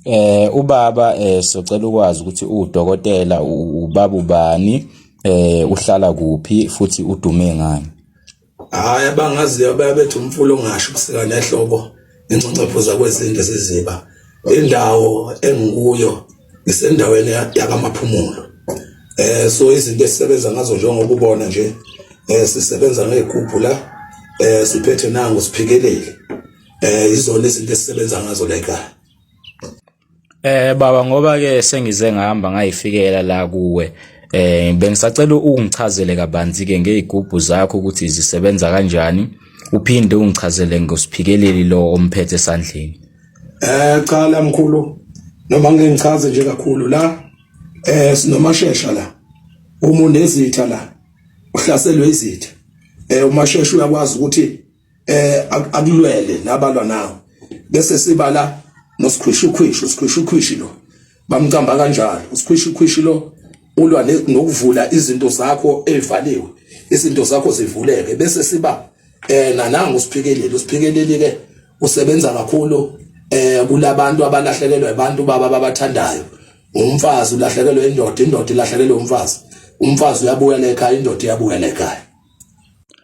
Eh ubaba eh socela ukwazi ukuthi udokotela ubaba ubani eh uhlala kuphi futhi udume ngani hayi abangaziyo bayabethu umfula ongasho kusika nehlobo ingcongcopho zakwezindle siziba indawo engikuyo isendaweni yakamaphumulo eh so izinto esisebenza ngazo njengoba ubona nje eh sisebenza ngegubhu la eh siphethe nangu siphikelele eh izona izinto esisebenza ngazo la ekhaya eh baba ngoba ke sengize ngihamba ngayifikela la kuwe eh bengisacela ungichazele kabanzi ke ngezigubhu zakho ukuthi zisebenza kanjani uphinde ungichazele ngosiphikeleli lo omphethe esandleni eh cha la mkhulu noma ngeke ngichaze nje kakhulu la eh sinomashesha la uma unezitha la uhlaselwe izitha eh umashesha uyakwazi ukuthi eh akulwele nabalwa nawo bese sibala nosikhwishukhwishu sikhwishukhwishi lo bamcamba kanjalo usikhwishukhwishi lo ulwa nokuvula izinto zakho evaliwe izinto zakho zivuleke bese siba eh nananga usiphikeleli usiphikeleli ke usebenza kakhulu eh kulabantu abalahlekelwa abantu baba babathandayo umfazi ulahlekelwe indoda indoda ilahlekelwe umfazi umfazi uyabuya lekhaya indoda iyabuya lekhaya